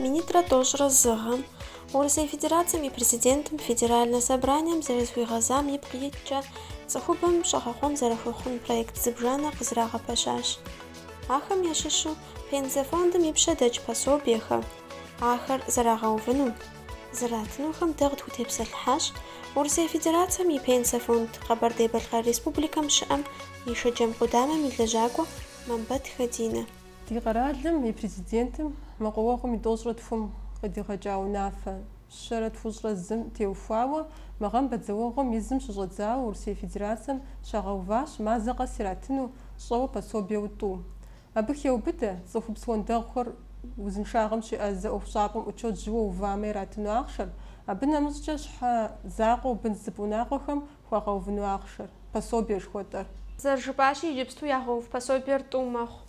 Минитӏрэ тӏощӏрэ зы гъэм Урысей Федерацэм и Президентым Федеральнэ собранием зэрызыхуигъэзам ипкъ иткӏэ цӏыхубэм щӏэгъэкъуэн зэрыхуэхъун проект зыбжанэ къызрагъэпэщащ. Ахэм ящыщу Пенсэ фондым и пщэ дэкӏ пособиехэм ахэр зэрагъэувынум, зэратынухэм дэ къытхутепсэлъыхьащ Урысей Федерацэм и Пенсэ фонд Къэбэрдей-Балъкъэр Республикэм щыӏэм и Шэджэм къудамэм и лэжьакӏуэ Мамбэт Хэдинэ. Ди къэралым и Президентым мэкъуауэгъуэм и тӏощӏрэ тхум къыдигъэкӏа унафэ щэрэ тхущӏрэ зым теухуауэ мы гъэм бэдзэуэгъуэм и зым щыщӏэдзауэ Урысей Федерацэм щагъэуващ мазэ къэс иратыну щӏэуэ пособиеу тӏу. Абы хеубыдэ, цӏыхубз уэндэгъухэр узыншагъэм щеӏэзэ ӏуэхущӏапӏэм учет жьыуэ увамэ иратыну ахъшэр, абы нэмыщӏкӏэ щхьэ закъуэу бын зыпӏ унагъуэхэм Хуагъэувыну ахъшэр, пособие жыхуэтӏэр. Зэрыжыпӏащи, иджыпсту ягъэув пособиер тӏу мэхъу.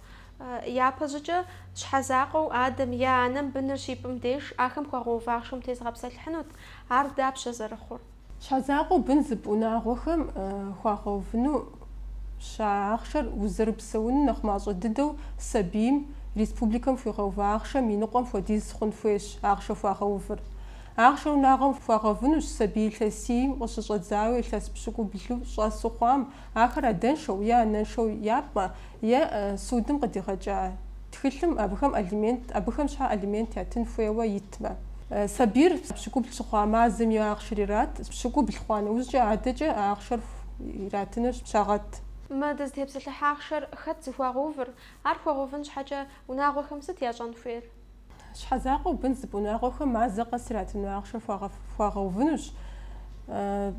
Япэщӏыкӏэ, щхьэ закъуэу адэм е анэм быныр щипӏым деж, ахэм хуагъэув ахъшэм тезыгъэпсэлъыхьынут. Ар дапщэ зэрыхъур? Щхьэ закъуэу бын зыпӏ унагъуэхэм хуагъэувынущ а ахъшэр узэрыпсэуну нэхъ мащӏэ дыдэу сабийм республикэм хуигъэува ахъшэм и ныкъуэм хуэдиз хъун хуейщ ахъшэ хуагъэувыр. Ахъшэр унагъуэм хуагъэвынущ сабий илъэсийм къыщыщӏэдзауэ илъэс пщыкӏублу щӏэсу хъуам, ахэр адэншэу е анэншэу япӏмэ, е судым къыдигъэкӏа тхылъым абыхэм алимент, абыхэм щхьэ алимент ятын хуейуэ итмэ. Сабийр пщыкӏубл щыхъуа мазэм и ахъшэр ират, пщыкӏубл хъуа нэужькӏэ адэкӏэ а ахъшэр иратыныр щагъэт. Мы дызытепсэлъыхь ахъшэр хэт зыхуагъэувыр? Ар хуагъэувын щхьэкӏэ унагъуэхэм сыт ящӏэн хуейр? Щхьэ закъуэу бын зыпӏ унагъуэхэм мазэ къэс иратыну ахъшэ хуагъэувынущ.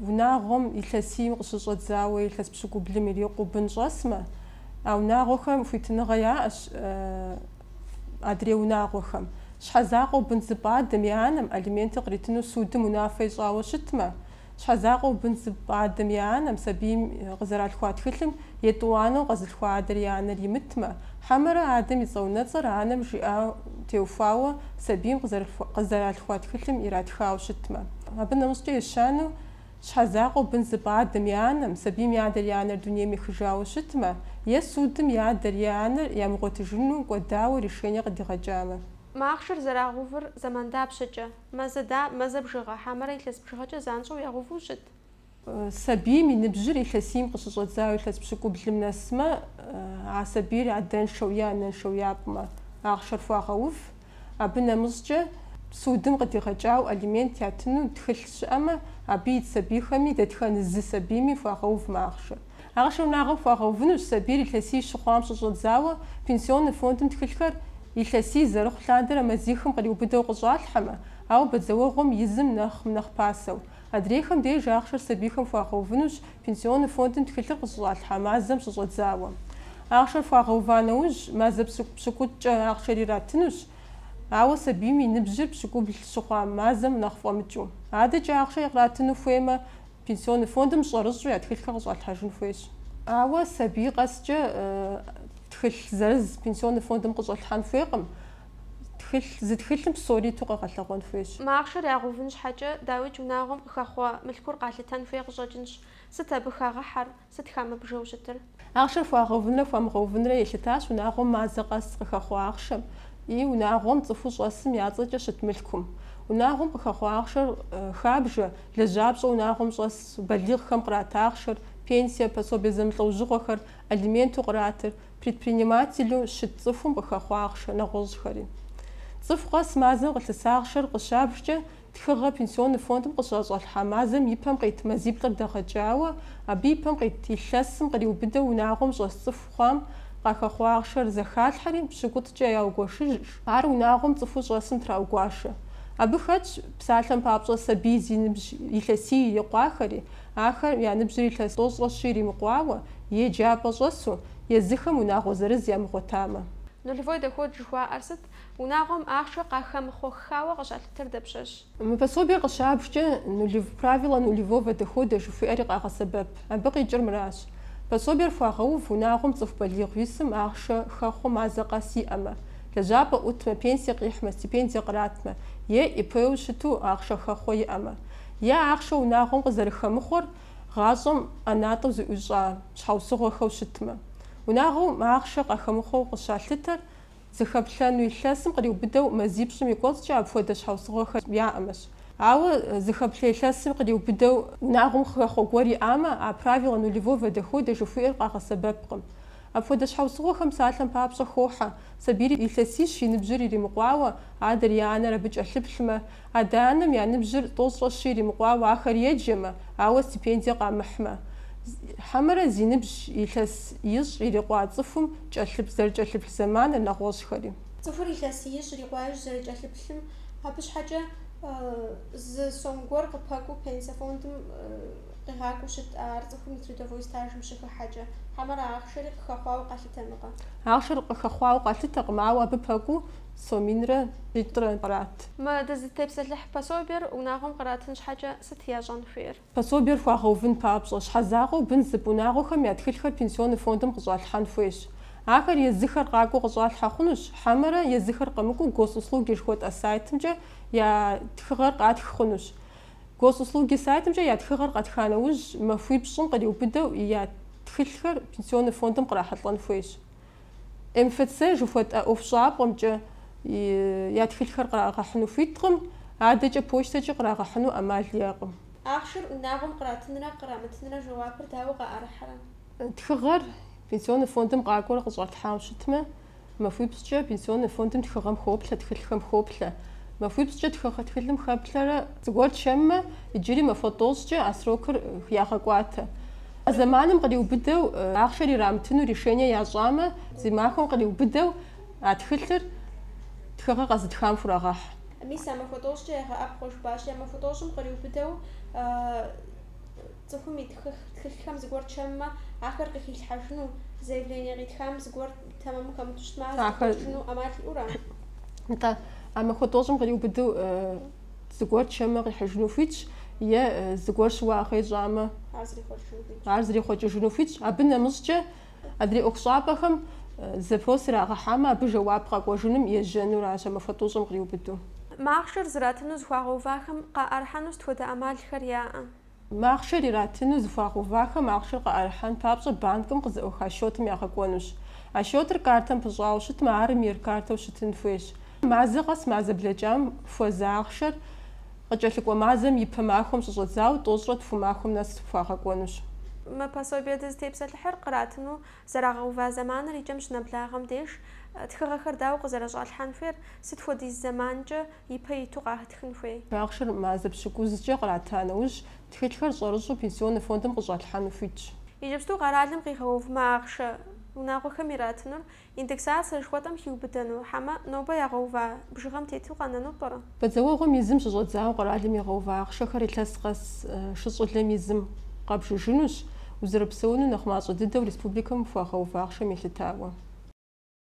Унагъуэм илъэсийм къыщыщӏэдзауэ илъэс пщыкӏублым ирикъуу бын щӏэсмэ, а унагъуэхэм хуитыныгъэ яӏэщ адрей унагъуэхэм. Щхьэ закъуэу бын зыпӏ адэм е анэм алименты къритыну судым унафэ ищӏауэ щытмэ, Щхьэзакъуэу бын зыпӏ адэм е анэм сабийм къызэралъхуа тхылъым етӏуанэу къэзылъхуа адэр е анэр имытмэ, хьэмэрэ адэм и цӏэунэцӏэр анэм жиӏам теухуауэ сабийм къызэралъхуа тхылъым иратхауэ щытмэ. Абы нэмыщӏкӏэ ещанэу, щхьэзакъуэу бын зыпӏ адэм е анэм сабийм и адэр е анэр дунейм ехыжауэ щытмэ е судым и адэр е анэр ямыгъуэтыжыну кӏуэдауэ решение къыдигъэкӏамэ. Мы ахъшэр зэрагъэувыр зэман дапщэкӏэ? Мазэ да, мазэ бжыгъэ, хьэмэрэ илъэс бжыгъэкӏэ занщӏэу ягъэуву щыт. Сабийм и ныбжьыр илъэсийм къыщыщӏэдзауэ илъэс пщыкӏублым нэсмэ, а сабийр адэншэу е анэншэу япӏмэ, ахъшэр хуагъэув. Абы нэмыщӏкӏэ, судым къыдигъэкӏауэ алимент ятыну тхылъ щыӏэмэ, абы ит сабийхэми, дэтхэнэ зы сабийми хуагъэув мы ахъшэр. Ахъшэр унагъуэм хуагъэувынущ сабийр илъэсий щыхъуам щыщӏэдзауэ Пенсионнэ фондым тхылъхэр, илъэсий зэрыхъу лъандэрэ мазихым къриубыдэу къыщӏалъхьэмэ, ауэ бэдзэуэгъуэм и зым нэхъ нэхъ пасэу. Адрейхэм деж ахъшэр сабийхэм хуагъэувынущ Пенсионнэ фондым тхылъыр къыщыщӏалъхьа мазэм щыщӏэдзауэ. Ахъшэр хуагъэува нэужь, мазэ пщыкӏутӏкӏэ ахъшэр иратынущ, ауэ сабийм и ныбжьыр пщыкӏубл щыхъуа мазэм нэхъ фӏэмыкӏыу. Адэкӏэ ахъшэр къратыну хуеймэ, Пенсионный фондым щӏэрыщӏэу я тхылъхэр къыщӏалъхьэжын хуейщ. Ауэ сабий къэскӏэ тхылъ зырыз Пенсионный фондым къыщӏэлъхьэн хуейкъым. Тхылъ, зы тхылъым псори иту къэгъэлъэгъуэн хуейщ. Мы ахъшэр ягъэувын щхьэкӏэ, дауикӏ унагъуэм къыхэхъуэ мылъкур къалъытэн хуей къыщӏэкӏынщ. Сыт абы хагъыхьэр? Сыт хамыбжэу щытыр? Ахъшэр хуагъэувынрэ хуамыгъэувынрэ елъытащ унагъуэм мазэ къэс къыхэхъуэ ахъшэм и унагъуэм цӏыхуу щӏэсым я цӏэкӏэ щыт мылъкум. Унагъуэм къыхэхъуэ ахъшэр хабжэ, лэжьапщӏэу унагъуэм щӏэс балигъхэм кърат ахъшэр, пенсие, пособие зэмылӏэужьыгъуэхэр, алименту къратыр, предпринимателу щыт цӏыхум къыхэхъуэ ахъшэ нэгъуэщӏхэри. Цӏыху къэс мазэм къылъыса ахъшэр къыщабжкӏэ, Тхыгъэ пенсионнэ фондым къыщыщӏалъхьа мазэм и пэм къит мазиплӏыр дэгъэкӏауэ, абы и пэм къит илъэсым къриубыдэу унагъуэм щӏэс цӏыхухэм къахэхъуа ахъшэр зэхалъхьэри, пщыкӏутӏкӏэ яугуэшыжщ, ар унагъуэм цӏыхуу щӏэсым траугуашэ. Абы хэтщ, псалъэм папщӏэ, сабий зи ныбжь илъэсий ирикъуахэри, ахэр я ныбжьыр илъэс тӏощӏрэ-щи иримыкъуауэ, еджапӏэ щӏэсу, езыхэм унагъуэ зырыз ямыгъуэтамэ. Нулевой доход жыхуаӏэр сыт? Унагъуэм ахъшэ къахэмыхъуэххауэ къыщалъытэр дапщэщ? Мы пособиер къыщабжкӏэ нулев, правило нулевого дохода жыхуиӏэри къагъэсэбэп. Абы къикӏыр мыращ, пособиер хуагъэув унагъуэм цӏыху балигъыу исым ахъшэ хэхъуэ мазэ къэс иӏэмэ, лэжьапӏэ ӏутмэ, пенсие къихьмэ, стипендие къратмэ е ИП-у щыту ахъшэ хэхъуэ иӏэмэ. Е ахъшэ унагъуэм къызэрыхэмыхъуэр гъащӏэм ӏэнатӏэу зыӏущӏа щхьэусыгъуэхэу щытмэ. Унагъуэм ахъшэ къахэмыхъуэу къыщалъытэр Зыхэплъэну илъэсым къриубыдэу мазипщӏым и кӏуэцӏкӏэ апхуэдэ щхьэусыгъуэхэр яӏэмэщ. Ауэ зыхэплъэ илъэсым къриубыдэу унагъуэм хэхъуэ гуэр иӏамэ, а правило нулевого дохода жыхуиӏэр къагъэсэбэпкъым. Апхуэдэ щхьэусыгъуэхэм псалъэм папщӏэ хохьэ, сабийр илъэсищ и ныбжьыр иримыкъуауэ, адэр е анэр абы кӏэлъыплъмэ, Адэ-анэм я ныбжьыр тӏощӏрэ щи иримыкъуауэ ахэр еджэмэ, ауэ стипендие къамыхьмэ. Хьэмэрэ зи ныбжь илъэс ищӏ ирикъуа цӏыхум кӏэлъыплъ зэрыкӏэлъыплъ зэманыр нэгъуэщӏхэри. Цӏыхур илъэс ищӏ ирикъуаижь зэрыкӏэлъыплъым, абы щхьэкӏэ зы сом гуэр къыпэкӏуу пенсэ фондым къигъакӏуэу щыт а ар цӏыхум и трудовой стажым щыхыхьэкӏэ. Хьэмэрэ ахъшэри къыхэхъуауэ къалъытэнукъэ? Ахъшэр къыхэхъуауэ къалъытэкъым, ауэ абы пэкӏуу Сом минрэ щитӏрэ кърат. Мы дызытепсэлъыхь пособиер унагъуэм къратын щхьэкӏэ сыт ящӏэн хуейр? Пособиер хуагъэувын папщӏэ, щхьэ закъуэу бын зыпӏ унагъуэхэм я тхылъхэр пенсионнэ фондым къыщӏалъхьэн хуейщ. Ахэр езыхэр къакӏуэу къыщӏалъхьэ хъунущ, хьэмэрэ езыхэр къэмыкӏуэу Госуслуги жыхуэтӏэ сайтымкӏэ я тхыгъэр къатх хъунущ. Госуслуги сайтымкӏэ я тхыгъэр къэтха нэужь, махуипщӏым къриубыдэу я тхылъхэр пенсионнэ фондым кърахьэлӏэн хуейщ. МФЦ жыхуэтӏэ ӏуэхущӏапӏэмкӏэ я тхылъхэр кърагъэхьыну хуиткъым, адэкӏэ почтэкӏи кърагъэхьыну ӏэмал яӏэкъым. Ахъшэр унагъуэм къратынрэ кърамытынрэ жэуапыр дауэ къаӏэрыхьэрэ? Тхыгъэр Пенсионнэ фондым къакӏуэрэ къыщӏэтлъхьауэ щытмэ, махуипщӏкӏэ Пенсионнэ фондым тхыгъэм хоплъэ, тхылъхэм хоплъэ. Махуипщӏкӏэ тхыгъэ тхылъым хэплъэрэ зыгуэр чэммэ, иджыри махуэ тӏощӏкӏэ а срокыр ягъэкӏуатэ. А зэманым къриубыдэу ахъшэр ирамытыну решение ящӏамэ, зы махуэм къриубыдэу а тхылъыр тхыгъэр къэзытхам хурагъэхь. Мис а махуэ тӏощӏкӏэ егъэӏэпхъуэ жыпӏащи, а махуэ тӏощӏым къриубыдэу цӏыхум и тхылъхэм зыгуэр чэммэ, ахэр къыхилъхьэжыну, заявление къитхам зыгуэр тэмэму хэмыту щытмэ, ахэр зэпэщ ищӏыжыну ӏэмал иӏэу ара? Атӏэ, а махуэ тӏощӏым къриубыдэу Зыгуэр чэммэ къихьыжыну хуитщ, е зыгуэр щыуагъэ ищӏамэ, ар зрихъуэкӏыжыну хуитщ. Абы нэмыщӏкӏэ, адрей ӏуэхущӏапӏэхэм запрос ирагъэхьамэ, абы жэуап къэкӏуэжыным ежьэну аращ а махуэ тӏощӏым къриубыдэу. Мы ахъшэр зратыну зыхуагъэувахэм къаӏэрыхьэну сыт хуэдэ ӏэмалхэр яӏэ? Мы ахъшэр иратыну зыхуагъэувахэм ахъшэр къыӏэрыхьэн папщӏэ банкым къызэӏуаха счетым ягъэкӏуэнущ. А счетыр картэм пыщӏауэ щытмэ, ар МИР картэу щытын хуейщ. Мазэ къэс мазэ блэкӏам хуэза ахъшэр къыкӏэлъыкӏуэ мазэм и пэ махуэм щыщӏэдзауэ тӏощӏрэ тху махуэм нэс хуагъэкӏуэнущ. Мы пособие дызытепсэлъыхьыр къратыну зэрагъэува зэманыр и кӏэм щынэблагъэм деж, тхыгъэхэр дауэ къызэрыщӏалъхьэн хуейр, сыт хуэдиз зэманкӏэ ипэ иту къатхын хуей. Ахъшэр мазэ пщыкӏузкӏэ кърата нэужь, тхылъхэр щӏэрыщӏу Пенсионнэ фондым къыщӏалъхьэну хуитщ. Иджыпсту къэралым къигъэува мы ахъшэ унагъуэхэм иратынур индексацэ жыхуэтӏэм хиубыдэну, хьэмэ, нобэ ягъэува бжыгъэм тету къэнэну пӏэрэ? Бэдзэуэгъуэм и зым щыщӏэдзауэ къэралым игъэува ахъшэхэр илъэс къэс шыщӏылэм и зым къабжыжынущ, узэрыпсэуну нэхъ мащӏэ дыдэу республикэм хуагъэува ахъшэм елъытауэ.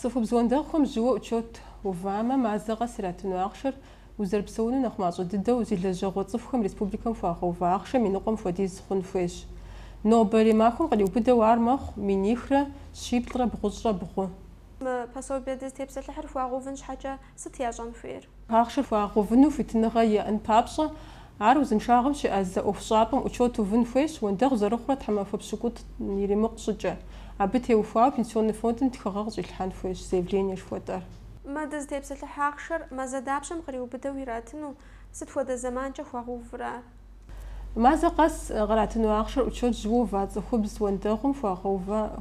Цӏыхубз уэндэгъухэм жьыуэ учет увамэ, мазэ къэс иратыну ахъшэр узэрыпсэуну нэхъ мащӏэ дыдэу зи лэжьэгъуэ цӏыхухэм республикэм хуагъэува ахъшэм и ныкъуэм хуэдиз хъун хуейщ. Нобэрей махуэм къриубыдэу ар мэхъу минихрэ щиплӏрэ бгъущӏрэ бгъу. Мы пособие дызытепсэлъыхьыр хуагъэувын щхьэкӏэ, Сыт ящӏэн хуейр? Ахъшэр хуагъэувыну хуитыныгъэ иӏэн папщӏэ, ар узыншагъэм щеӏэзэ ӏуэхущӏапӏэм учет увын хуейщ, уэндэгъу зэрыхъурэ тхьэмахуэ пщыкӏутӏ иримыкъу щӏыкӏэ. Абы теухуауэ Пенсионный фондым тхыгъэ къыщӏилъхьэн хуейщ заявление жыхуэтӏэр. Мы дызытепсэлъыхь ахъшэр мазэ дапщэм къриубыдэу иратыну? Сыт хуэдэ зэманкӏэ хуагъэувыр ар? Мазэ къэс къратыну ахъшэр учет жьыуэ ува цӏыхубз уэндэгъум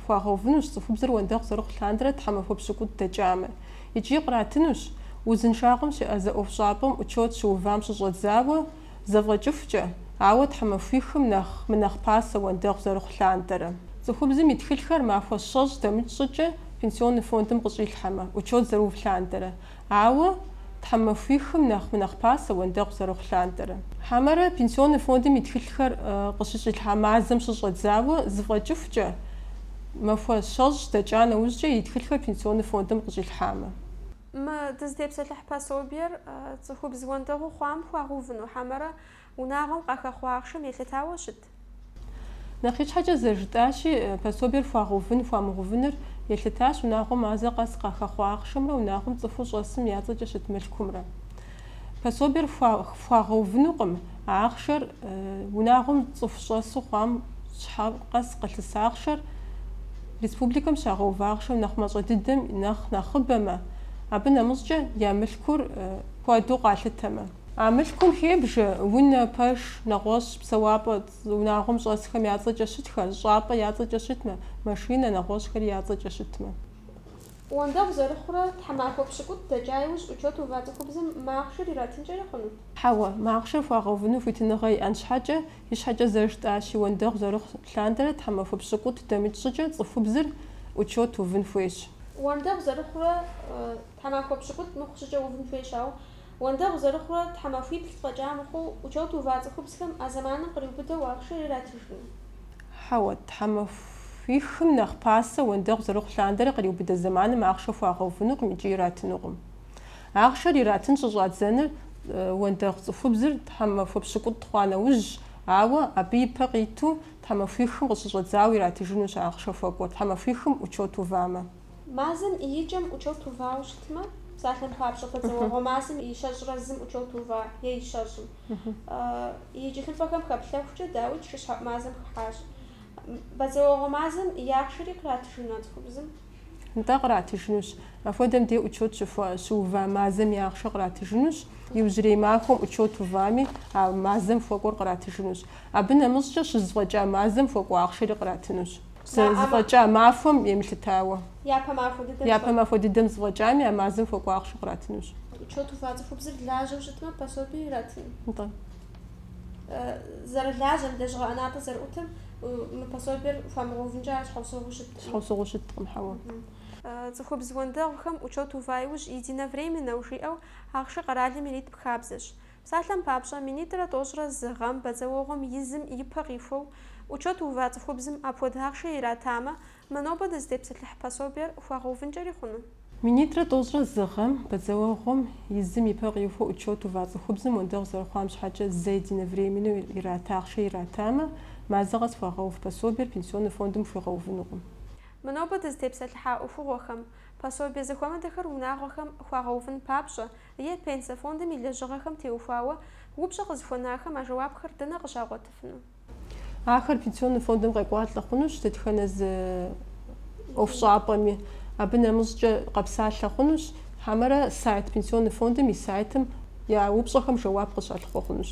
хуагъэувынущ, цӏыхубзыр уэндэгъу зэрыхъу лъандэрэ тхьэмахуэ пщыкӏутӏ дэкӏамэ. Икӏи къратынущ, узыншагъэм щеӏэзэ ӏуэхущӏапӏэм учет щыувам щыщӏэдзауэ зэфӏэкӏыхукӏэ, ауэ тхьэмахуихым нэхъ мынэхъ пасэ уэндэгъу зэрыхъу лъандэрэ. Цӏыхубзым и тхылъхэр махуэ щэщӏ дэмыкӏ щӏыкӏэ Пенсионный фондым къыщӏилъхьэмэ, учет зэрыув лъандэрэ. Ауэ тхьэмахуихым нэхъ мынэхъ пасэ уэндэгъу зэрыхъу лъандэрэ. Хьэмэрэ Пенсионный фондым и тхылъхэр къыщыщӏилъхьа мазэм щыщӏэдзауэ зэфӏэкӏыхукӏэ, махуэ щэщӏ дэкӏа нэужькӏэ и тхылъхэр Пенсионный фондым къыщӏилъхьамэ. Мы дызытепсэлъыхь пособиер цӏыхубз уэндэгъуу хъуам хуагъэувыну, хьэмэрэ Унагъуэм къахэхъуэ ахъшэм елъытауэ щыт? Нэхъ ищхьэкӏэ зэрыжытӏащи, пособиер хуагъэувын, хуамыгъэувыныр елъытащ унагъуэм мазэ къэс къахэхъуэ ахъшэмрэ унагъуэм цӏыхуу щӏэсым я цӏэкӏэ щыт мылъкумрэ. Пособиер хуагъэувынукъым а ахъшэр унагъуэм цӏыху щӏэсу хъуам щхьэ къэс къылъыс ахъшэр республикэм щагъэува ахъшэм нэхъ мащӏэ дыдэм нэхъ нэхъыбэмэ, абы нэмыщӏкӏэ я мылъкур куэду къалъытэмэ. А мылъкум хебжэ, унэ, пэш, нэгъуэщӏ псэуапӏэ, унагъуэм щӏэсхэм я цӏэкӏэ щытхэр, щӏапӏэ я цӏэкӏэ щытмэ, машинэ, нэгъуэщӏхэри я цӏэкӏэ щытмэ. Уэндэгъу зэрыхъурэ, тхьэмахуэ пщыкӏутӏ дэкӏа иужь учет ува цӏыхубзым мы ахъшэр иратынкӏэрэ хъуну? Хьэуэ, мы ахъшэр хуагъэувыну хуитыныгъэ иӏэн щхьэкӏэ, ищхьэкӏэ зэрыжытӏащи, уэндэгъу зэрыхъу лъандэрэ тхьэмахуэ пщыкӏутӏ дэмыкӏ щӏыкӏэ цӏыхубзыр учет увын хуейщ. Уэндэгъу зэрыхъурэ, тхьэмахуэ пщыкӏутӏ мыхъу щӏыкӏэ увын хуейщ, ауэ Уэндэгъу зэрыхъурэ тхьэмахуиплӏ фӏэкӏа мыхъуу, учет ува цӏыхубзхэм а зэманым къриубыдэу ахъшэр иратыжкъым. Хьэуэ, тхьэмахуихым нэхъ пасэ уэндэгъу зэрыхъу лъандэрэ къриубыдэ зэманым ахъшэ хуагъэувынукъым икӏи иратынукъым. Ахъшэр иратын щыщӏадзэныр уэндэгъу цӏыхубзыр тхьэмахуэ пщыкӏутӏ хъуа нэужьщ, ауэ абы ипэ къиту тхьэмахуихым къыщыщӏэдзауэ иратыжынущ ахъшэ хуэкӏуэр тхьэмахуихым учет увамэ. Мазэм и икӏэм учет увауэ щытмэ, псалъэм папщӏэ, бадзэуэгъуэ мазэм и щэщӏрэ зым учет ува, е и щэщӏым. И тхылъхэм хэплъэхукӏэ дауи шыщхьэӏу мазэм хыхьащ. Бадзэуэгъуэ мазэм и ахъшэри къратыжыну а цӏыхубзым? Нтӏэ, къратыжынущ. Апхуэдэм де учет щыува мазэм и ахъшэр къратыжынущ. Иужьрей махуэм учет увами, а мазэм хуэкӏуэр къратыжынущ. Абы нэмыщӏкӏэ щызэфӏэкӏа мазэм хуэкӏуэ ахъшэри къратынущ. зыфӏэкӏа махуэм емылъытауэ. Япэ махуэ дыдэм. Япэ махуэ дыдэм зыфӏэкӏами а мазэм хуэкӏуэ ахъшэ къратынущ. Учет ува цӏыхубзыр лажьэу щытмэ, пособие иратын. Нтӏэ. Зэрылажьэм, лэжьыгъэ ӏэнатӏэ зэрыӏутым, мы пособиер хуамыгъэувынкӏэ ар щхьэусыгъуэу щыткъым. Щхьэусыгъуэу щыткъым, хьэуэ. Цӏыхубз уэндэгъухэм учет ува иужь единовременнэу жиӏэу ахъшэ къэралым ирит хабзэщ. Псалъэм папщӏэ, минитӏрэ тӏощӏрэ зы гъэм бадзэуэгъуэм и зым и пэ къихуэу учет ува цӏыхубзым апхуэдэ ахъшэ иратамэ, мы нобэ дызытепсэлъыхь пособиер хуагъэувынкӏэри хъуну? Минитӏрэ тӏощӏрэ зы гъэм бадзэуэгъуэм и зым и пэ къихуэу учет ува цӏыхубзым уэндэгъу зэрыхъуам щхьэкӏэ зэ единовременнэу ират ахъшэ иратамэ, мазэ къэс хуагъэув пособиер Пенсионный фондым хуигъэувынукъым. Мы нобэ дызытепсэлъыхьа ӏуэхугъуэхэм, пособие зэхуэмыдэхэр унагъуэхэм хуагъэувын папщӏэ, е Пенсэ фондым и лэжьыгъэхэм теухуауэ упщӏэ къызыхуэнахэм а жэуапхэр дэнэ къыщагъуэтыфыну? Ахэр Пенсионный фондым къекӏуалӏэ хъунущ дэтхэнэ зы ӏуэхущӏапӏэми. Абы нэмыщӏкӏэ къэпсалъэ хъунущ хьэмэрэ сайт Пенсионный фондым и сайтым я упщӏэхэм жэуап къыщалъыхъуэ хъунущ.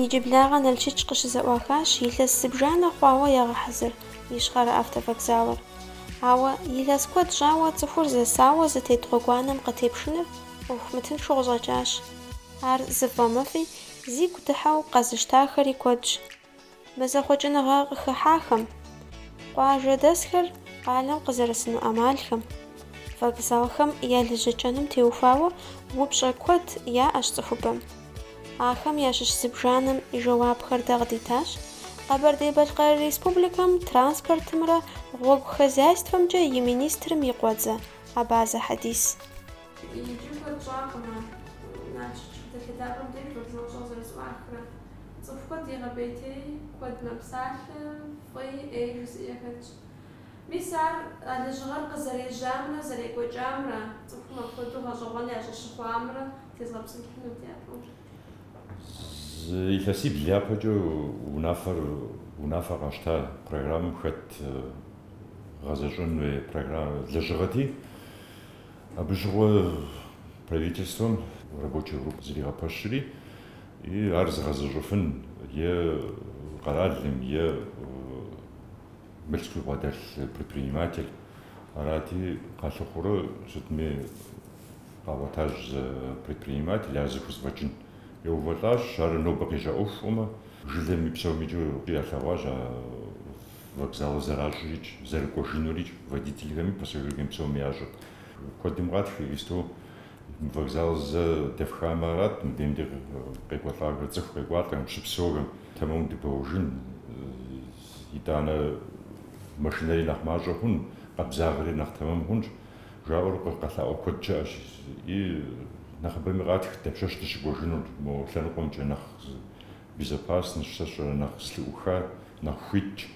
Иджыблагъэ Налшыч къыщызэӏуахащ илъэс зыбжанэ хъуауэ ягъэхьэзыр Ищхъэрэ автовокзалыр. Ауэ, илъэс куэд щӏауэ цӏыхур зэсауэ зытет гъуэгуанэм къытепшыныр ӏуэху мытыншу къыщӏэкӏащ. Ар зыфӏэмыфӏи, зигу дыхьэу къэзыщтахэри куэдщ. Мы зэхъуэкӏыныгъэ къыхыхьахэм, къуажэдэсхэр къалэм къызэрысыну ӏэмалхэм, вокзалхэм я лэжьэкӏэнум теухуауэ упщӏэ куэд яӏэщ цӏыхубэм. Ахэм ящыщ зыбжанэм и жэуапхэр дэ къыдитащ Къэбэрдей-Балъкъэр Республикэм транспортымрэ гъуэгу хозяйствэмкӏэ и министрым и къуэдзэ Абазэ Хьэдис. Иджы куэд щӏакъымэ, Налшык щхьэтэлъэ лъапӏэм деж щӏэбжыуэщӏэу зэрызэӏуахрэ. Цӏыху куэд егъэбэтей, куэд мэпсалъэ, фӏыи, ӏеи жызыӏэ яхэтщ. Мис ар а лэжьыгъэр къызэрежьамрэ зэрекӏуэкӏамрэ, цӏыхум апхуэдэу гъэщӏэгъуэн щӏащыхъуамрэ утезгъэпсэлъыхьынут япэу. Зы илъэсибл япэкӏэ унафэр, унафэ къащта программэм хэт гъэзэщӏэн хуей программэ, лэжьыгъэти, Абы щыгъуэ правительствэм рабочей группэ зэригъэпэщри, и ар зыгъэзэщӏыфын е къэралым, е мылъку бгъэдэлъ предприниматель арати, къалъыхъурэ сытми къагъуэтащ зы предприниматель ар зыхузэфӏэкӏын. Яувэлӏащ, ар нобэ къежьа ӏуэху щӏумэ, жылэми псомкӏи ялъэгъуащ а Вокзалыр зэращӏырикӏ, зэрыкӏуэжынурикӏ водительхэми, пассажирхэми псоми ящӏэрт. Куэдым къатх иджыпсту мы вокзал зэ дэфхамэ арат, мыбдеж ди къекӏуэлӏахэр, цӏыху къекӏуалӏэхэм, щыпсэухэм тэмэму дыбэуэжын, итӏанэ машинэри нэхъ мащӏэ хъун, къабзагъэри нэхъ тэмэм хъунщ, жаӏэу къэлъаӏуэ куэд щыӏэщ. И нэхъыбэми къатх дапщэщ дыщыкӏуэжынур мо лъэныкъуэмкӏэ нэхъ Безопасность сэ сщӏэрэ нэхъ слыӏухар нэхъ хуитщ.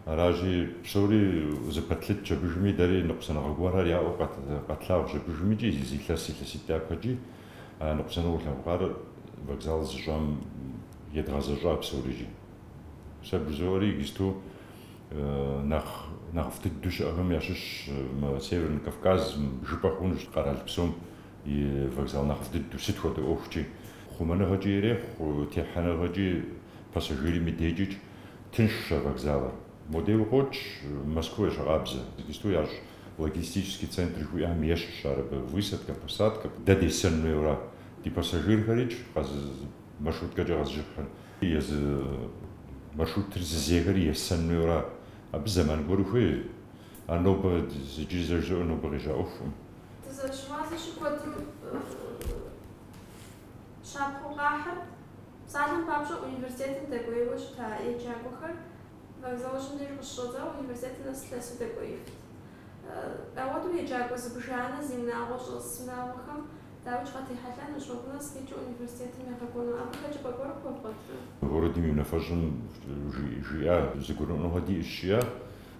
Аращи, псори зэпэтлъытщ абыжми, дэри ныкъусаныгъэ гуэрхэр яӏэу къэтлъэгъуащ абыжми икӏи зы илъэс илъэситӏ дяпэкӏи. А ныкъусаныгъэу тлъэгъуар вокзал зыщӏам едгъэзэщӏа псорикӏи. Сэ бжызоӏэри иджысту нэхъ нэхъыфӏ дыдэу щыӏэхэм ящыщщ мы Северный Кавказ, жыпӏэ хъунущ къэрал псом И вокзал нэхъыфӏ дыдэу, сыт хуэдэ ӏуэхукӏи, хъумэныгъэкӏи ирехъу, техьэныгъэкӏи, пассажирым и декӏикӏ тыншщ а вокзалыр. Модейуэ къокӏ Москвэ ещхькъабзэу, иджысту ящӏ логистический центр жыхуиӏэм ещхьщ ар абы, высадкэ, посадкэ. Дэ десэн хуейуэра? Ди пассажирхэри къэзы маршруткэкӏэ къэзыжыхьыр, езы маршрутыр зызехэри есэн хуейуэра? Абы зэман гуэр хуей. Ар нобэ, иджыри зэ жызоӏэ, нобэ къежьа ӏуэхукъым. Дызэрыщыгъуазэщи, куэдым щапхъэу къахьыр. Псалъэм папщӏэ, университетым дэкӏуейуэ щыта еджакӏуэхэр вокзалыжьым деж къыщыщӏэдзауэ университетым нэс лъэсу дэкӏуеифт. Ауэдэу еджакӏуэ зыбжанэ зи унагъуэ щӏэс унагъуэхэм дауикӏ къатехьэлъэнущ, уэ гу нэс къикӏыу университетым егъэкӏуэну. Абы хэкӏыпӏэ гуэр къыхуэвгъуэтрэ? Городым и унафэщӏым жиӏа зэгурыӏуэныгъэ диӏэщ, жиӏэ.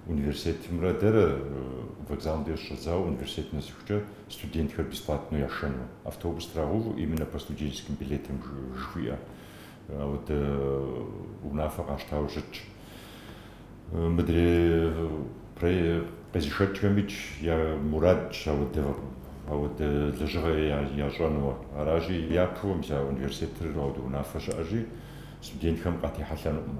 Университетымрэ дэрэ вокзалым деж щӏэдзауэ университетым нэсыхукӏэ студентхэр бесплатнэу яшэну. Автобус трагъэувэу именно по студенческим билетам жыхуиӏэ ауэдэ унафэ къащтауэ щытщ. Мыдрей къезышэкӏхэмикӏ я мурадщ ауэдэ ауэдэ лэжьыгъэ ящӏэнуэ. Аращи, япэу мис а университетыр ауэдэ унафэ щыӏэщи, студентхэм къатехьэлъэнукъым.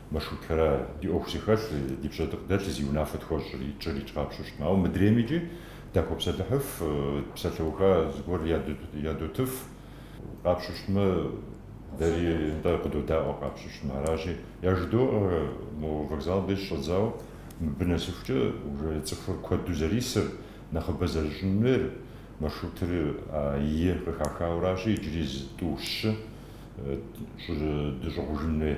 Маршрутхэра ди ӏуэху зыхэлъ, ди пщэдыкъ дэлъ зи унафэ тхуэщӏри, тщӏырикӏ къапщтэмэ. Ауэ мыдреймикӏи дахуэпсэлъыхьыф, псалъэуха зыгуэр ядотыф. Къапщтэмэ, дэри нтӏэ къыдодаӏуэ къапщтэмэ. Аращи, яжыдоӏэ мо вокзалым деж щӏэдзауэ, мыбы нэсыхукӏэ уже цӏыхур куэду зэрисыр, нэхъыбэ зэрыщӏын хуейр. Маршрутыр А-Е къыхахауэ аращи, иджыри зы тӏу щы. дыщӏыгъужын хуей.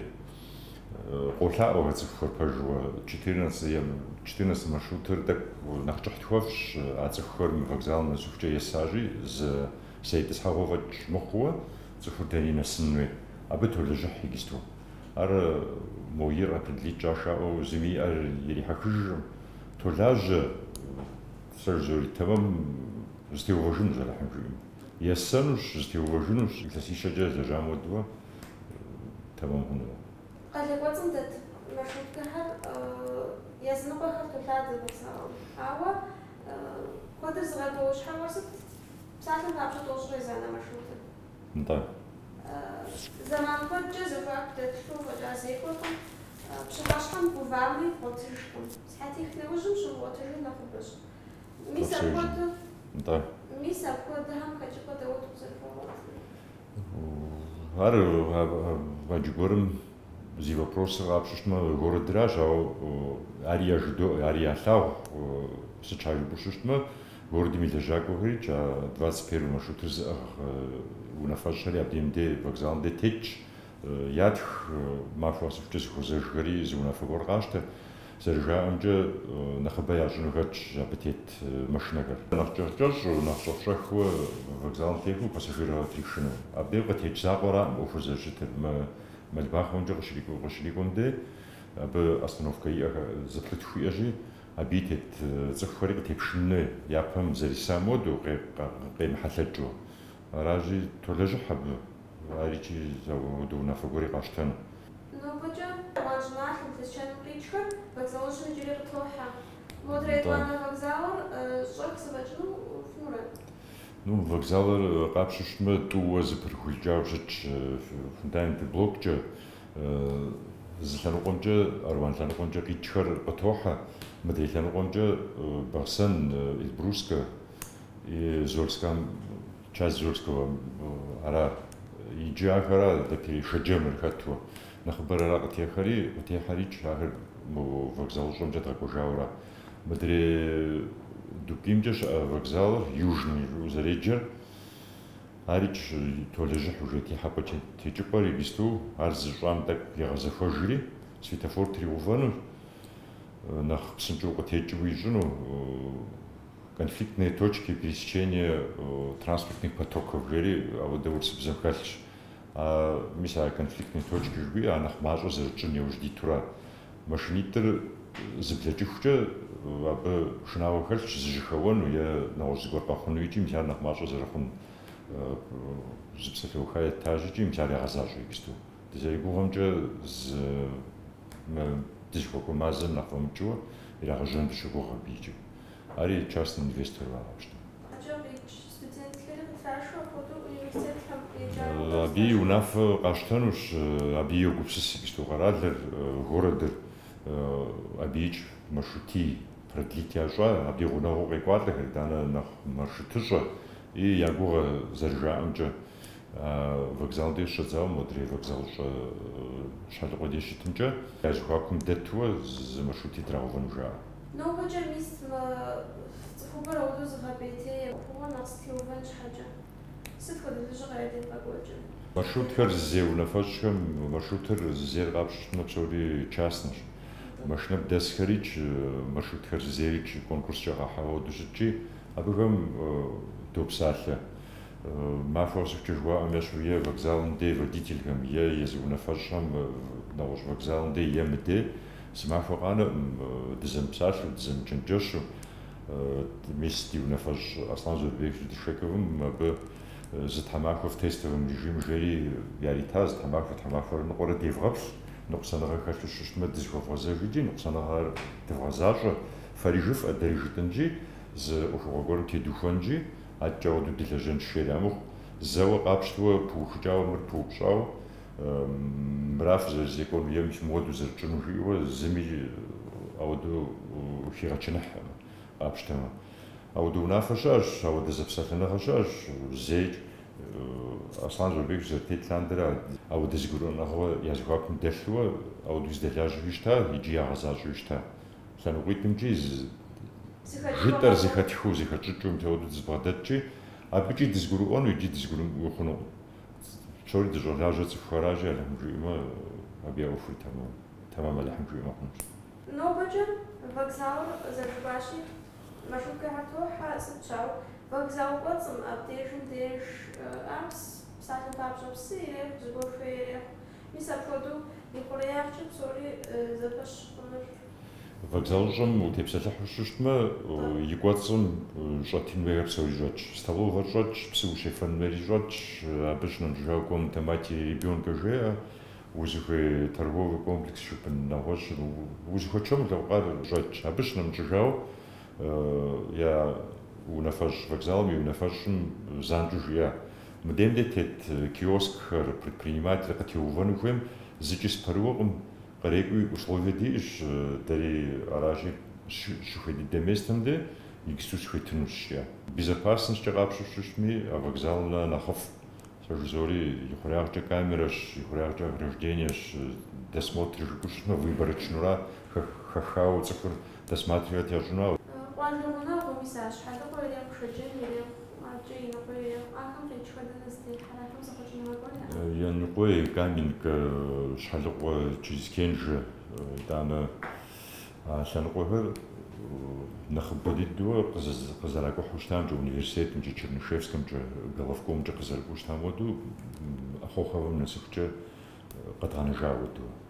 Къолъаӏуэхэ цӏыхухэр пэжуэ четырнадцатэ маршрутыр тӏэкӏу нэхъ кӏыхь тхуэфщӏщ, а цӏыхухэр мы вокзалым нэсыхукӏэ есащи, зы зэ итӏысхьэгъуэ фӏэкӏ мыхъууэ цӏыхур дэни нэсын хуей. Абы толэжьыхь иджысту. Ар мо ир къэпыдлитӏ кӏашаӏуэу зыми и ӏэр ирихьэхыжыркъым. Толажьэ, сэ жызори, тэмэм зытеувэжынущ Алыхьым жиӏэм. Есэнущ, зытеувэжынущ, илъэсищэкӏэ зэжьам хуэдэу тэмэм хъунукъэ. Къалэ кӏуэцӏым дэт маршруткэхэр языныкъуэхэр толъадэ гупсысэгъуэм. Ауэ куэдыр зыгъэкӏуэуэ щхьэуэ сыт? Псалъэм папщӏэ тӏощӏрэ езанэ маршрутыр? Нтӏэ. Зэман куэдкӏэ зэхуаку дэлъу фӏэкӏа зекӏуэркъым, пщыхьэщхьэм гувами, бгъуэтыжкъым. Сыхьэтих нэужьым щумыгъуэтыжыр нэхъыбэщ. Мис апхуэдэу? Нтӏэ. Мис апхуэдэхэм хэкӏыпӏэ дауэ къызэрыхуэвгъуэтыр? Ар гъэдж гуэрым зи вопросыр къапщтэу щытмэ, городыращ, ауэ ари яжыдоӏэ, ари ялъагъу сыт щхьэ жыпӏэу щытмэ, городым и лэжьакӏуэхэри а двадцать первый маршрутыр зыӏыгъ унафэщӏхэри абдеем де, вокзалым де тетщ, Ятх махуэ къэсыхукӏэ зыхуэзэжхэри зы унафэ гуэр къащтэ. Зэрыжаӏэмкӏэ, нэхъыбэ ящӏыну хэтщ абы тет машинэхэр. Нэхъ кӏэщӏ-кӏэщӏ, нэхъ щӏэх-щӏэхыу вокзалым техыу пассажирхэр тришыжыну. Абдеж къытекӏ закъуэраӏым ӏуэхур зэрыщытыр. Мы Мэлбахъуэмкӏэ къыщрикӏуэм дей, абы остановкэ иӏэ, зыплӏытху иӏэщи, абыи тет цӏыхухэри къытепшын хуей, япэм зэресам хуэдэу, къемыхьэлъэкӏыу. Аращи, толэжьыхь абы. Ар икӏи зэхуэдэу унафэ гуэри къащтэну. Нобэкӏэ Аруан щӏыналъэм, Лэскэным къикӏхэр вокзалыжьым иджыри къытохьэ. Модрей етӏуанэ вокзалыр щӏэх зэфӏэкӏыну пфӏэщӏрэ? Ну, вокзалыр къапщтэу щытмэ, тӏууэ зыпырыхукӏауэ щытщ фундамент блоккӏэ. Зы лъэныкъуэмкӏэ, Аруан лъэныкъуэмкӏэ къикӏхэр къытохьэ. Мыдрей лъэныкъуэмкӏэ Бахъсэн, Эльбрусскэ, Зольскэм Часть Зольского ара иджы ахэр адрей Шэджэмыр хэту нэхъыбэр ара къытехьэри, къытехьэрикӏ ахэр мы вокзалыщӏэмкӏэ дгъэкӏуэжауэра. Мыдрей Дубкимкӏэ щыӏэ вокзалыр, Южный, жыӏэу зэреджэр, арикӏ толэжьыхь уже техьэпӏэ-текӏыпӏэр иджысту ар зыщӏам тӏэкӏу игъэзэхуэжри, светофор тригъэувэну, нэхъ псынщӏэу къытекӏыу ищӏыну. Конфликтные точки пересечения транспортных потоков жери ауэдэ урысыбзэм хэлъщ. Мис а конфликтные точки жыхуиӏэ а нэхъ мащӏэу зэрытщӏын яужь дитура? Машинитӏыр зыблэкӏыхукӏэ абы шынагъуэ хэлъщ зэжьэхэуэну е нэгъуэщӏ зыгуэр къэхъуну икӏи мис ар нэхъ мащӏэ зэрыхъун зы псалъэуха этаж икӏи мис ар ягъэзащӏэ иджысту. Дызэригугъэмкӏэ зы мы дызыхуэкӏуэ мазэм нэхъ фӏэмыкӏыуэ ирагъэжьэн дыщыгугъ абы икӏи. Ари частный инвестору къапщтэмэ. Къэкӏа къикӏ студентхэри къытрашэу апхуэдэу университетхэм еджакӏуэ къэзыгъэщӏэну. Абы и унафэ къащтэнущ, абы йогупсыс иджысту къэралыр, городыр, абыикӏ маршрутий продлить ящӏа, абы и гъунэгъуу къекӏуалӏэхэр, итӏанэ нэхъ маршрутыщӏэ и, я гугъэ зэрыжаӏэмкӏэ, Вокзал деж щыщӏэдзауэ модрей вокзалыщӏэ Щхьэлыкъуэ деж щытымкӏэ, я зэхуакум дэтууэ зы маршрути трагъэувэну жаӏэ. Нобэкӏэ мис мы цӏыхубэр ауэдэу зыгъэпӏейтей ӏуэхугъуэр нэхъ зэтеувэн щхьэкӏэ. Сыт хуэдэ лэжьыгъэ ядевгъэкӏуэкӏыр? Маршрутхэр зызей унафэщӏхэм маршрутыр зызейр къапщтэмэ, псори частнэщ. Машинэм дэсхэрикӏ, маршрутхэр зызейрикӏ конкурскӏэ къахьауэ ауэдэу щытщи, абыхэм допсалъэ. Махуэ къэсыхукӏэ жыхуаӏэм ещхьу е вокзалым дей водительхэм, е езы унафэщӏхэм нэгъуэщӏ вокзалым дей е мыдей, зы махуэ къанэкъым, дызэмыпсалъэу, дызэмычэнджэщу. Мис ди унафэщӏ Аслъан Заурбекович Дышековым абы зы тхьэмахуэ в тестовом режиме жери яритащ, зы тхьэмахуэ, тхьэмахуэрэ ныкъуэрэ девгъэплъ, ныкъусаныгъэ хэлъу щыщтмэ дызэхуэвгъэзэж икӏи ныкъусаныгъэр дывгъэзащӏэ, фэри жыфӏэ, дэри жытӏэнщи, зы ӏуэхугъуэ гуэрым тедухуэнщи. Адэкӏэ ауэдэу дылэжьэнщ жери армыхъу, зэуэ къапщтыуэ пыухыкӏауэ мыр пыупщӏауэ, мыра фызэрызекӏуэну е мис мыуэдэу зэрытщӏыну жиӏэурэ зыми ауэдэу хигъэчыныхьэ къапщтэмэ. Ауэдэ унафэ щыӏэщ, ауэдэ зэпсэлъэныгъэ щыӏэщ зейкӏ. Аслъан Заурбекович зэрытет лъандэрэ ауэдэ зэгурыӏуэныгъэуэ я зэхуакум дэлъууэ ауэдэу зэдэлажьэуи щыта икӏи ягъэзащӏэуи щыта. лъэныкъуитӏымкӏи зы жытӏэр зэхэтхыу, зэхэтщӏыкӏыу мис ауэдэу дызэбгъэдэтщи, абыкӏи дызэгурыӏуэну икӏи дызэгурымыӏуэу хъунукъым. Псори дыщӏэлажьэр цӏыхухэращи, Алыхьым жиӏэмэ, абы я ӏуэхури тэмам. Тэмам Алыхьым жиӏэмэ хъунущ. Нобэкӏэ вокзалыр къызэӏуахащи, маршруткэхэр тохьэ, сыт щауэ, вокзал кӏуэцӏым, абдежым деж, апс, псалъэм папщӏэ псы ирехъу, зыгуэр хуей ирехъу. Мис апхуэдэу и хъуреягъкӏэ псори зэпэщ хъунур. Вокзалыщӏэм утепсэлъыхьу щыщтмэ, и кӏуэцӏым щӏэтын хуейхэр псори щӏэтщ. Столовэр щӏэтщ, псы ущефэн хуейри щӏэтщ. Абы щынэмыщӏыжауэ комната матери и ребенка жеӏэ, узыхуей торговый комплекс щыгъын, нэгъуэщӏу, узыхуэчэм улъэӏукъэ ар щӏэтщ. Абы щынэмыщӏыжауэ я унафэщӏ вокзалым и унафэщӏым занщӏэу жиӏэ, Мы дем де тет киоскхэр, предприниматели къытеувэну хуейм, зыкӏи сыпэрыуэкъым, кърекӏуи условие диӏэщ, дэри аращи, щыхуей дыдэ местым де иджыпсту схуетынущ, жиӏэ. Безопасностькӏэ къапщтэу щытми, а вокзалым нэхъ нэхъыфӏ, сэ жызори, ихъуреягъкӏэ камерэщ, ихъуреягъкӏэ ограждениещ, досмотр жыпӏэу щытмэ, выборочнэура, хэхауэ цӏыхур. Досматривать ящӏыну ауэ. Къуажэ гъунэгъу мис а Щхьэлыкъуэр ирехъу, Шэджэмыр ирехъу, ӏэджэ Яныкъуей ирехъу. Ахэм къикӏхэр дэнэ зытехьэр? Ахэм зэхъуэкӏыныгъэ куэд яӏэкъым. Яныкъуей, Каменка, Щхьэлыкъуэ через Кенжэ, итӏанэ а лъэныкъуэхэр нэхъыбэ дыдэуэ къызэракӏухьу щытамкӏэ, университетымкӏэ, Чернышевскэмкӏэ, Головкомкӏэ къызэрыкӏуэу щытам хуэдэу, Ахоховэм нэсыхукӏэ къэдгъэнэжа хуэдэу.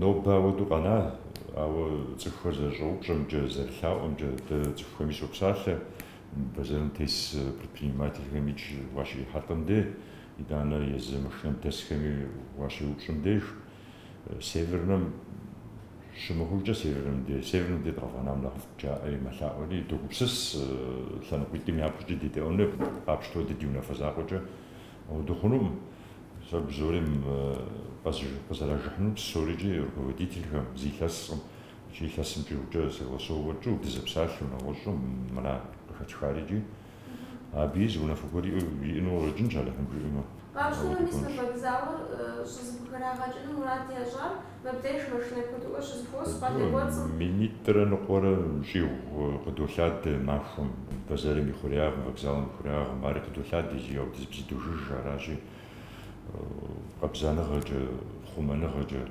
Нобэ ауэдэу къэна, ауэ цӏыхухэр зэрыщӏэупщӏэмкӏэ, зэрылъаӏуэмкӏэ, дэ цӏыхухэми щопсалъэ, бэзэрым тес предпринимательхэмикӏ уащрихьэлӏэм де, итӏанэ езы машинэм дэсхэми уащеупщӏым деж, Севернэм щымыхъужкӏэ, Севернэм де, Севернэм де дыкъэвгъэнам нэхъыфӏ жаӏэри мэлъаӏуэри, догупсыс лъэныкъуитӏым япэкӏэ дедэӏуэну къапщтэу дэ ди унафэ закъуэкӏэ. Ауэдэу хъунукъым, сэ бзури къызэрэжыхьынум псори икӏи руководительхэм, зы илъэскъым икӏи илъэсымкӏэукӏэ согласовывать тщӏыуэ дызэпсалъэу нэгъуэщӏу мра къыхэтхари икӏи абыи зы унафэ гуэр иӏэну къыщӏэкӏынщ, Алыхьым жиӏэмэ. Къащтэнуми сэ фӏэдзауэ щӏызыпхэрагъэкӏыну мурад ящӏам Мыбдеж машинэ куэдыӏуэ щызыхуос къалэ кӏуэцӏым. Минитӏрэ ныкъуэрэ щӏигъу къыдолъадэ махуэм, бэзэрым и хъуреягъым, вокзалым и хъуреягъым. Ари къыдолъадэ зы ауэдизыбзэ дожыж, аращи, къабзаныгъэкӏэ, хъумэныгъэкӏэ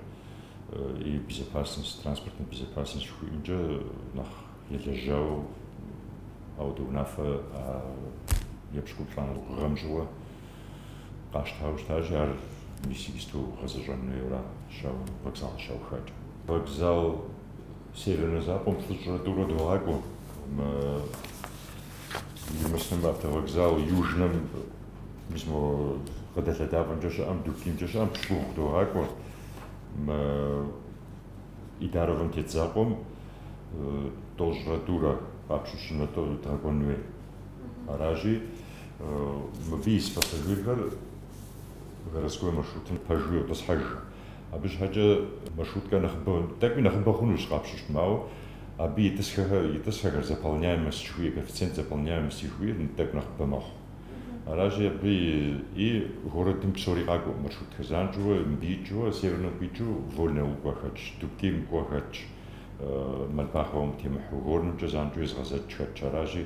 и безопасность, транспортная безопасность жыхуиӏэмкӏэ нэхъ елэжьауэ, ауэдэ унафэ епщыкӏуплӏанэ гъэм щыгъуэ Къащтауэ щытащи, ар мис иджыпсту гъэзэщӏэн хуейуэ аращ, ауэ, вокзалым щаухакӏэ. Вокзал Севернэ закъуэм плӏыщӏрэ тӏурэ догъакӏуэ. Мы Муслъым автовокзал Южнэм мис мо къыдэлъэдапӏэмкӏэ щыӏэм, Дубкимкӏэ щыӏэм пщыкӏубгъу догъакӏуэ. Мы Идаровым тет закъуэм тӏощӏрэ тӏурэ къапщтэу щытмэ дгъэкӏуэн хуей. Аращи, Мыбы ис пассажирхэр городской маршрутым пэжу йотӏысхьэж. Абы щхьэкӏэ маршруткэ нэхъыбэ, тӏэкӏуи нэхъыбэ хъунущ къапщтэмэ, ауэ абы итӏысхьэр, итӏысхьэхэр заполняемость жыхуиӏэ, коэффициент заполняемости жыхуиӏэр тӏэкӏу нэхъыбэ мэхъу. Аращи, абы и городым псори къакӏуэ маршрутхэр. Занщӏэуэ мыбы икӏыурэ, Севернэм къикӏыу Вольный Аул кӏуэ хэтщ, Дубким кӏуэ хэтщ, Мальбаховэм темыхьэу, Горнымкӏэ занщӏэу езыгъэзэкӏ хэтщ. Аращи,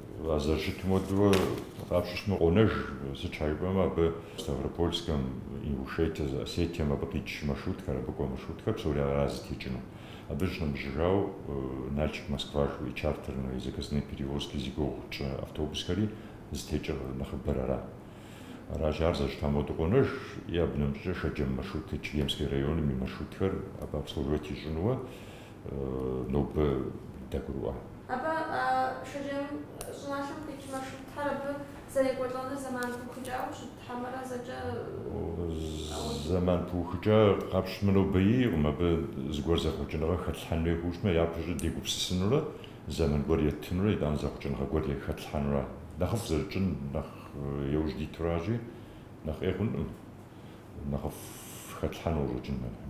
А зэрыщытым хуэдэурэ къапщтэмэ къонэж, сыт щхьэ жыпӏэмэ абы Ставропольскэм, Ингушетие, Осетием абы къикӏ маршрутхэр, абы кӏуэ маршрутхэр псори аращ зытекӏыну. Абы щынэмыщӏыжауэ Нальчик, Москва жыхуиӏэ чартерные и заказные перевозки зи гугъу тщӏы автобусхэри зытекӏыр нэхъыбэр ара. Аращи, ар зэрыщытам хуэдэу къонэж. И абы нэмыщӏкӏэ Шэджэм маршрутхэр, Чегемский районым и маршрутхэр абы обслуживать ищӏынуэ нобэ дагурыӏуа. Абы а шэджэм щӏыналъэм къикӏ маршрутхэр абы зэрекӏуэлӏэнур зэман пыухыкӏауэ щыт хьэмэрэ зэкӏэ? Зэман пыухыкӏа къапщтэмэ, нобэ иӏэкъым. Абы зыгуэр зэхъуэкӏыныгъэ хэтлъхьэн хуей хъужмэ, япэщӏыкӏэ дегупсысынурэ зэман гуэр еттынурэ итӏанэ зэхъуэкӏыныгъэ гуэри хэтлъхьэнура. Нэхъыфӏ зэрытщӏын нэхъ яужь дитуращи, нэхъ ӏей хъункъым нэхъыфӏ хэтлъхьэну къыщӏэкӏын мыхъумэ.